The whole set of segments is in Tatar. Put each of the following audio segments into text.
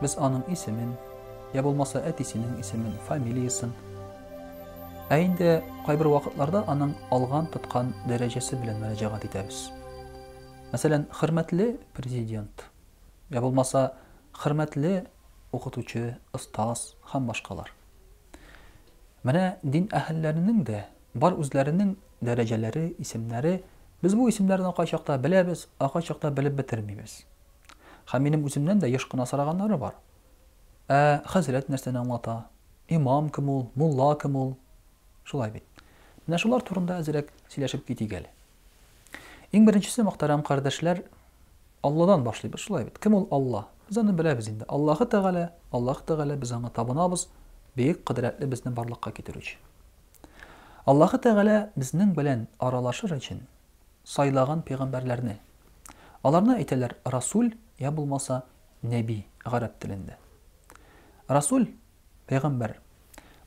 Без аның исемен, я булмаса әтисенең исемен, фамилиясын, ә инде кайбер вакытларда аның алган тоткан дәрәҗәсе белән мөрәҗәгать итәбез. Мәсәлән, хөрмәтле президент, я булмаса хөрмәтле укытучы, остаз һәм башкалар. Менә дин әһелләренең дә бар үзләренең дәрәҗәләре, исемнәре. Без бу исемнәрне кайчакта беләбез, а кайчакта белеп бетермибез. Һәм минем үземнән дә еш кына сораганнары бар. Ә хәзрәт нәрсәне аңлата? Имам кем ул, мулла кем ул? Шулай бит. Менә шулар турында әзрәк сөйләшеп китик әле. Иң беренчесе, мөхтәрәм кардәшләр, Алладан башлыйбыз, шулай бит. Кем ул Алла? Без аны беләбез инде. Аллаһы Тәгалә, Аллаһ Тәгалә, без аңа табынабыз, бөек кодрәтле безне барлыкка китерүче. Аллаһы Тәгалә безнең белән аралашыр өчен, сайлаган пәйгамбәрләрне. Аларны әйтәләр расүл йә булмаса нәби, гарәп телендә. Расүл, пәйгамбәр,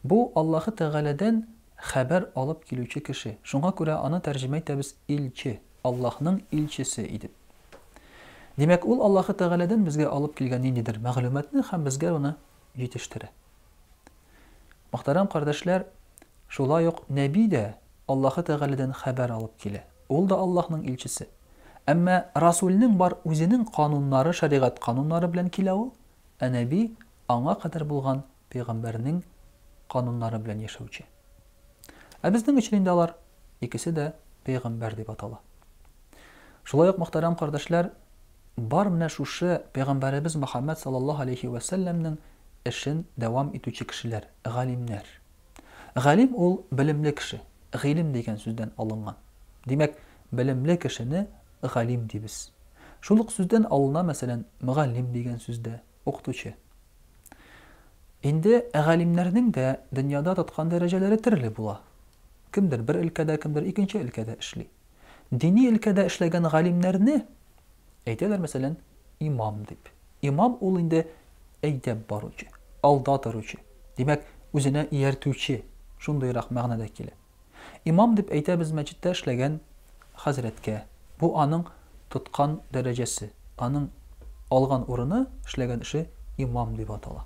бу Аллаһы Тәгаләдән хәбәр алып килүче кеше, шуңа күрә аны тәрҗемә итәбез илче, Аллаһның илчесе идеп. Димәк, ул Аллаһы Тәгаләдән безгә алып килгән ниндидер мәгълүматны һәм безгә аны җитештерә. Мөхтәрәм кардәшләр, шулай ук Нәби дә Аллаһы Тәгаләдән хәбәр алып килә, ул да Аллаһның илчесе. Әмма Расүлнең бар үзенең кануннары, шәригать кануннары белән килә ул, ә Нәби аңа кадәр булган пәйгамбәрнең кануннары белән яшәүче. Ә безнең өчен инде алар икесе дә пәйгамбәр дип атала. Шулай ук, мөхтәрәм кардәшләр, Бар менә шушы Пәйгамбәребез Мөхәммәд саллаллаһу галәйһи вә сәлләмнең эшен дәвам итүче кешеләр, галимнәр. Галим ул, белемле кеше, гыйлем дигән сүздән алынган. Димәк, белемле кешене галим дибез. Шул ук сүздән алына, мәсәлән, мөгаллим дигән сүз дә, укытучы. Инде галимнәрнең дә дөньяда тоткан дәрәҗәләре төрле була. Кемдер бер өлкәдә, кемдер икенче өлкәдә эшли. Дини өлкәдә эшләгән галимнәрне әйтәләр, мәсәлән, имам дип. Имам ул инде әйдәп баручы, алда торучы, димәк, үзенә ияртүче, шундыйрак мәгънәдә килә. Имам дип әйтәбез мәчеттә эшләгән хәзрәткә. Бу аның тоткан дәрәҗәсе, аның алган урыны, эшләгән эше имам дип атала.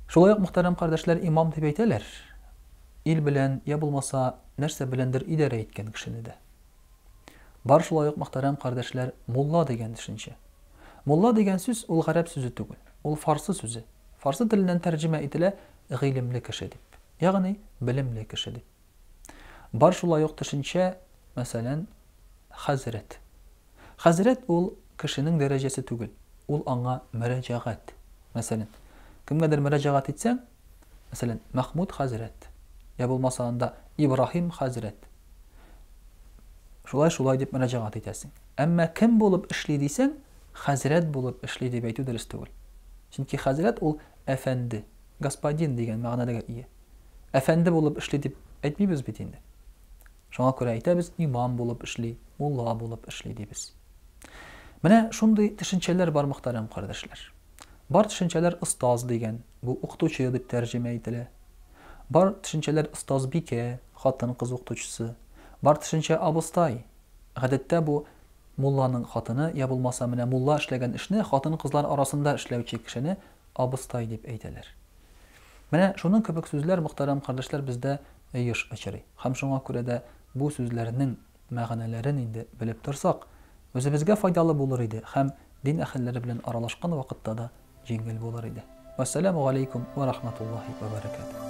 Шулай ук, мөхтәрәм кардәшләр, имам дип әйтәләр. Ил белән, йә булмаса, нәрсә беләндер идарә иткән кешене дә. Бар шулай ук, мөхтәрәм кардәшләр, мулла дигән төшенчә. Мулла дигән сүз, ул гарәп сүзе түгел, ул фарсы сүзе. Фарсы теленнән тәрҗемә ителә гыйлемле кеше дип, ягъни белемле кеше дип. Бар шулай ук төшенчә, мәсәлән, хәзрәт. Хәзрәт ул, кешенең дәрәҗәсе түгел, ул аңа мөрәҗәгать. Мәсәлән, кемгәдер мөрәҗәгать итсәң, мәсәлән, Мәхмүд хәзрәт, йә булмаса анда Ибраһим хәзрәт, шулай-шулай дип мөрәҗәгать итәсең. Әмма кем булып эшли дисәң, хәзрәт булып эшли дип әйтү дөрес түгел. Чөнки хәзрәт ул әфәнде, господин дигән мәгънәләргә ия. Әфәнде булып эшли дип әйтмибез бит инде. Шуңа күрә әйтәбез, имам булып эшли, мулла булып эшли, дибез. Менә шундый төшенчәләр бар, мөхтәрәм кардәшләр. Бар төшенчәләр остаз дигән, бу укытучы дип тәрҗемә ителә. Бар төшенчәләр остазбикә, хатын-кыз укытучысы. Бар төшенчә абыстай. Гадәттә бу мулланың хатыны, я булмаса, менә мулла эшләгән эшне хатын-кызлар арасында эшләүче кешене абыстай дип әйтәләр. Менә шуның кебек сүзләр, мөхтәрәм кардәшләр, бездә еш очрый. Һәм шуңа күрә дә бу сүзләрнең мәгънәләрен инде белеп торсак, үзебезгә файдалы булыр иде һәм дин әһелләре белән аралашкан вакытта да җиңел булыр иде. Вәссәләмү галәйкүм вә рахматуллаһи вә бәрәкәтүһ.